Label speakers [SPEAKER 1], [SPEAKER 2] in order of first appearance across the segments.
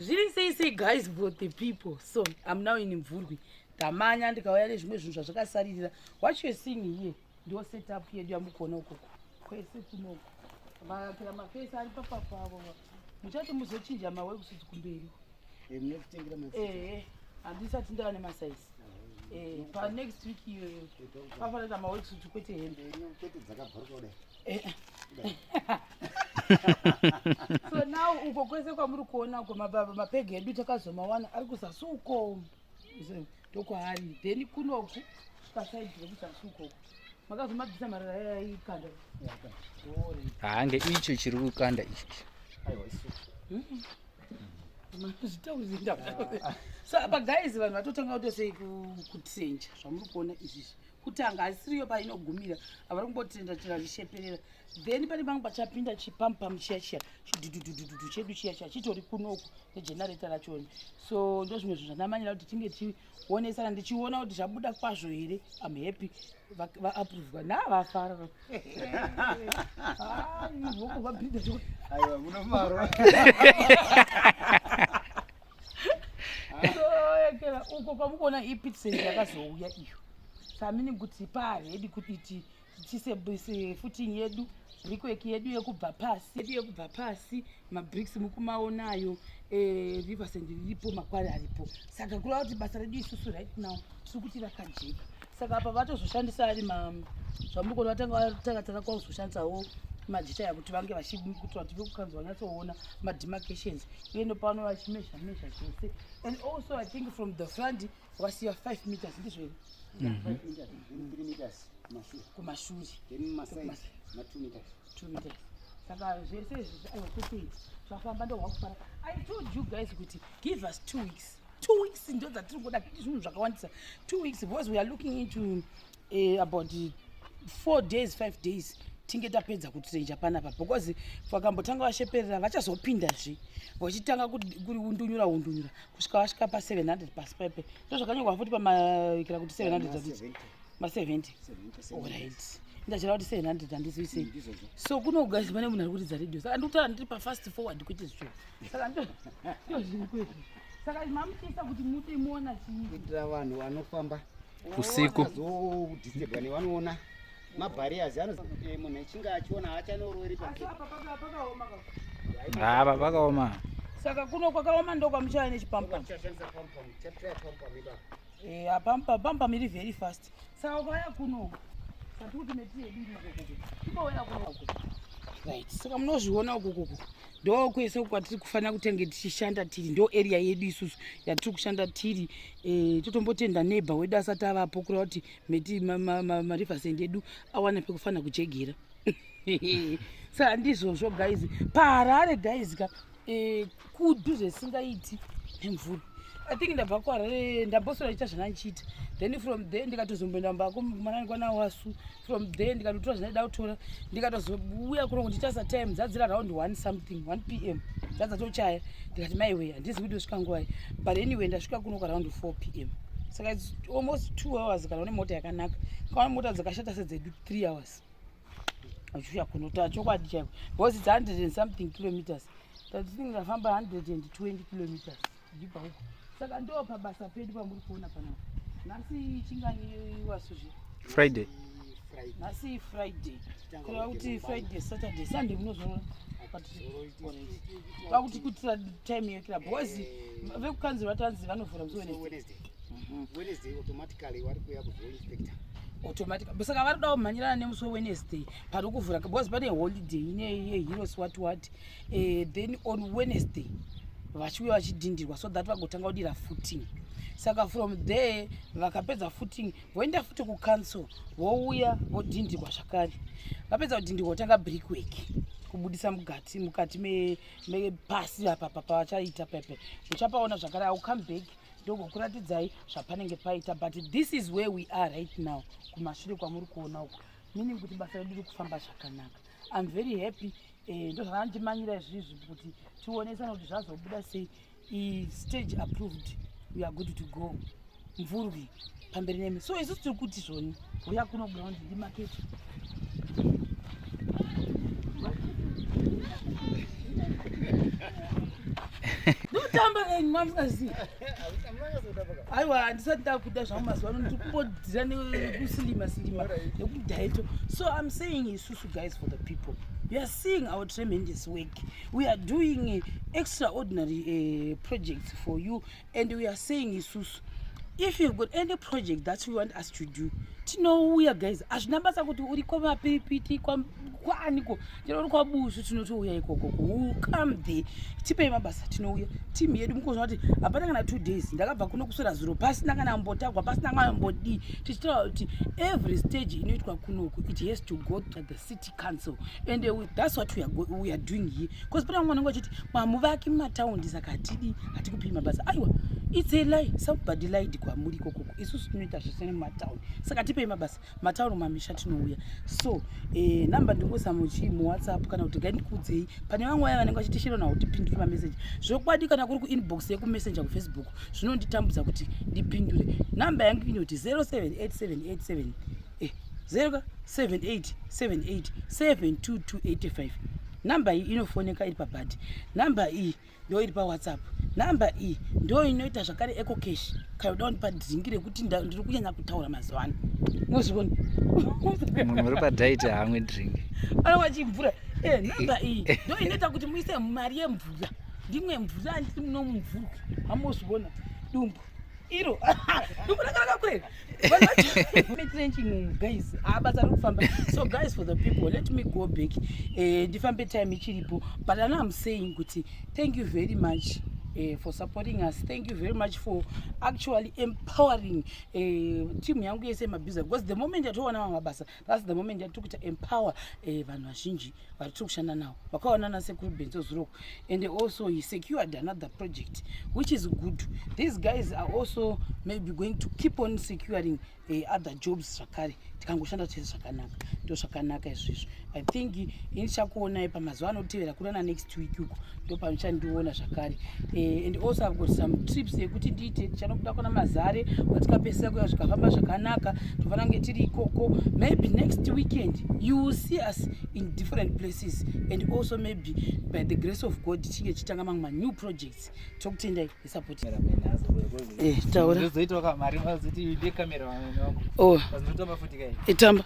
[SPEAKER 1] zviri sei sei guys for the people so im now in mvurwi ndamanya ndikauya nezvimwe zvinhu zvazvakasaririra what you're seeing here ndo setup yedu yamukuona ukoko kwese kunoko vakapira mafesi ari papapavo muchati muzochinja mawekusuti kumberi
[SPEAKER 2] handisati ndava
[SPEAKER 1] nemasaisi Eh, pa next week iyoyo eh, eh, pafana ta maworksuit kwete hembe so now uko kwese kwamuri kuona uko mababa mapege edu takazomawana ari kuzasi uko ndokwaari then kunoku pasaidi rekuzasi uko uko makazomabvisa marara yaikanda
[SPEAKER 3] haange icho chiri kukanda ichi
[SPEAKER 1] zvitaurizinda sa apa guys vanhu vatotanga kutosei kutsenja zvamuri kuona izvizvi kutanga haisiriyo painogumira havari kumbotenda tenda zvisheperera then pane pangu pachapinda chipampam chiya chiya chidhudhudhudhudhu chedu chiya chiya chitori kunoku negenareta rachoni so ndo zvimwe zvinhu zvanamanyira kuti tinge tichionesana ndichiona kuti zvabuda kwazvo here am happy vaapruvwa na vafara voko vabhidha aiwa munomaro yakela uko kwamukuona ipitsen yakazouya iyo samini kuti paaredi kuti tiise futing yedu brikweki yedu yekubva pasi yedu yekubva pasi mabricks mukumaonayo eh, riversend riripo makwari aripo saka kureva kuti basa redu isusu right now tiri kuti rakajeka saka apa vatozoshandisa ari zvamuri kuona vatanga vatakatanga kwakuzoshandisawo majita yakuti vange vachikuti vati vekukanzi vanyatsoona mademarcations yendo pano vachimezha mezha chose and also i think from the front wasiya 5 meters ndizvo here
[SPEAKER 2] kumashure saka
[SPEAKER 1] zvese izvi aiwa kuti zvafamba ndohwakufara i told you guys kuti give us two weeks two weeks ndo dzatiri kuda zvinhu zvakawandisa two weeks because we are looking into eh, about four days five days tinge tapedza kutrenja panapa because vakambotanga vasheperera vachazopindazve vachitanga kundunyura undunyura kusvika vasvika pa 700 pasi paipe ndo zvakanyorwa futi pamaikira kuti 700 ma 70 orit ndachira kuti 700 handizivi sei mm, so kunogaizi pane munhu ari kuridza radio saka ndikutaura ndiri pafast forward kuite zvicho saka ndo zviri kwezvo saka mamuchiisa kuti mute muona chii kuitira vanhu
[SPEAKER 2] vanofamba usiku
[SPEAKER 3] azodhisturbwa
[SPEAKER 2] nevanoona mabhariyazi anozi eh, munhu echinge achiona haachanoorori
[SPEAKER 3] hava pakaoma saka kuno
[SPEAKER 1] kwakaoma ndo kwamuchava nechipampa eh, pampa pampa miri very fast saka ukauya kuno sati kuti metiediriikouya kuno right saka munozviona ukukuku ndo kwese kwatiri kufanira kutenge tichishanda tiri ndo area yedu isusu yatiri kushanda tiri Eh, totombotenda neighbor wedu asati avapo kureva kuti meti mariversend edu awana pekufanira kujegera sa handizvozvo guys paharare guys ka eh, kudu zvesingaiti nemvura i think ndabva kuharare ndambosora iita zvanandichiita then from there ndikatozomboenda mbako mwanani kwanawasu from there ndikatotora zvandaida kutora ndikatozouya kuno kunditarisa time dzadzira round one something one p m dzadzatochaya ndikati maiwe handizi kuti osvika nguvai but anyway ndasvika kuno kwaround four p m saka its almost two hours kana une mota yakanaka kaona mota dzakashata sedzedu three hours achiuya kuno ta chokwadi chaiko because its hundred and something kilometers tatinge ndafamba hundred and twenty kilometers Ndibva huko. Saka ndo pabasa pedu pamuri kuona pana. Nasi chingani wasu zve. Friday.
[SPEAKER 3] Nasi
[SPEAKER 1] Friday. Kwa kuti Friday, Saturday, Sunday munozorora. Pakuti kutira time yekira boys vekukanzi vatanzi vanovhura musi Wednesday. Mhm.
[SPEAKER 2] Wednesday automatically wari kuya kuzo inspector automatic
[SPEAKER 1] saka vari kuda kumhanyirana nemusi wewennesday pari kuvhura because pane holiday ine yeheroes what what eh, then on wednesday vachiuya vachidhindirwa so that vagotanga kudira footing saka from there vakapedza footing voenda futi kucouncil vouya vodhindirwa zvakare vapedza kudhindirwa votanga brickwork kubudisa mugati mukati mepasi apa papavachaita pepe uchapaona zvakare au come back ndogokuratidzai zvapanenge paita but this is where we are right now kumashure kwamuri kuona uku meaning kuti basa redu riri kufamba zvakanaka iam very happy eh, ndozvakanditimanyira izvizvi kuti tionesana kuti zvazobuda sei stage approved we are good to go mvurwi pamberi nemi so isusu tiri kuti zvoni huya kuno ground ndimaketi ndotamba enyu mamusikazivi aiwa handisati ndakuda zvangu mazuva ano ndikubodira nekusilima silima nekudaito so im saying isusu guys for the people we are seeing our tremendous work we are doing extraordinary uh, projects for you and we are saying isusu if you've got any project that you want us to do tinouya guys hazvina basa kuti uri kwamapiripiti kwaaniko Tinoona kwa Bushu tinotouya ikoko ku come there. Tipei mabasa tinouya. Team yedu mukozwa kuti hapana kana 2 days ndakabva kuno kuswera zuro pasina kana mbotagwa pasina kana mbodi tichitaura kuti every stage inoitwa kunoku it has to go to the city council and uh, that's what we are, go, we are doing here because pana mwana wangu achiti mamuvaki mumataundi saka hatidi hatikupii mabasa aiwa it's a lie somebody lied kwamuri ikokoko isusu tinoita zvese nemumataundi saka tipei mabasa matauro mamisha tinouya so eh, number ndingozama uchii muwhatsapp kana kuti gaindikuudzei pane vamwe vaya vanenge vachitishira nawo kuti pindure mameseji zvokwadi kana kuri kuinbox yekumessenger kufacebook zvinonditambudza kuti ndipindure namba yangu inoti 078787 eh, 078787228 namba iyi inofoneka iri pabhadhi namba iyi ndo iri pawhatsapp number iyi ndo inoita zvakare eco cash kana uda kundipa dhingi rekuti ndiri kunyanya kutaura mazuva ano nozviona munhu
[SPEAKER 3] uri padiet haamwe drink anova chimvura
[SPEAKER 1] e eh, number iyi ndo inoita kuti muise mari yemvura ndimwe mvura ndiri muno mumvurwi hamozviona dumbu iro ndikunakanaka kweli trenching guys abatsa ari kufamba so guys for the people let me go back eh, ndifambe time ichiripo but ano am saying kuti thank you very much Uh, for supporting us thank you very much for actually empowering uh, team yangu yese yemabhiza because the moment yatowana mamwe mabasa plus the moment yatiri kuita empower eh, vanhu eh, vazhinji vari tiri kushanda nawo vakaona nasekuru benzo zuroko and also he secured another project which is good these guys are also maybe going to keep on securing eh, other jobs zvakare tikangoshanda tese zvakanaka ndo zvakanaka izvizvo i think ini chakuonai pamazuva anotevera kurana next week uko ndopamuchandiona zvakare eh, and also i've got some trips yekuti ndiite tichanobuda kuna mazare watikapesera kuya zvikafamba zvakanaka tofana kunge tiri ikoko maybe next weekend you will see us in different places and also maybe by the grace of god tichinge tichitanga mamwe manew projects tokutendai nesupport eh, taura oh. eh, tamba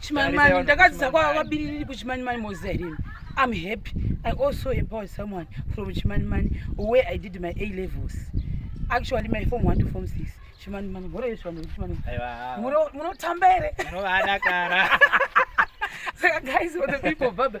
[SPEAKER 1] Chimanimani ndakadzidza kwa vabiririri kuchimanimani moziva here imi? I'm happy. I also empowered someone from Chimanimani where I did my A levels. Actually, my form one to form six. Chimanimani, mhoro yeshe vanhu vechimanimani. Aiwa. Muno- Munotamba here? Munovadakara. Saka guys, for the people of Baba,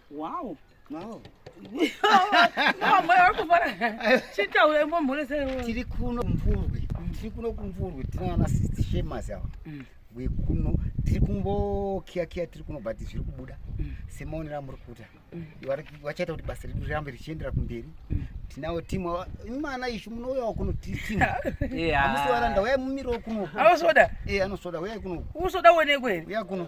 [SPEAKER 1] Wow. Wow.
[SPEAKER 2] chitaure momhoresei tiri kuno kumvurwi tiri kuno kumvurwi tinaana sisti shemas ava mm. wekuno tiri kungokiyakiya tiri kuno but zviri kubuda mm. semaonero amuri kuita mm. vachaita kuti basa redu rirambe richiendera kumberi tinawo timu imana ishu munouyawo kuno timu amusi varanda uyai mumiriwo kuno anosvoda eh,
[SPEAKER 1] anosvoda uyai kuno
[SPEAKER 2] usoda uonekwe
[SPEAKER 1] uya kuno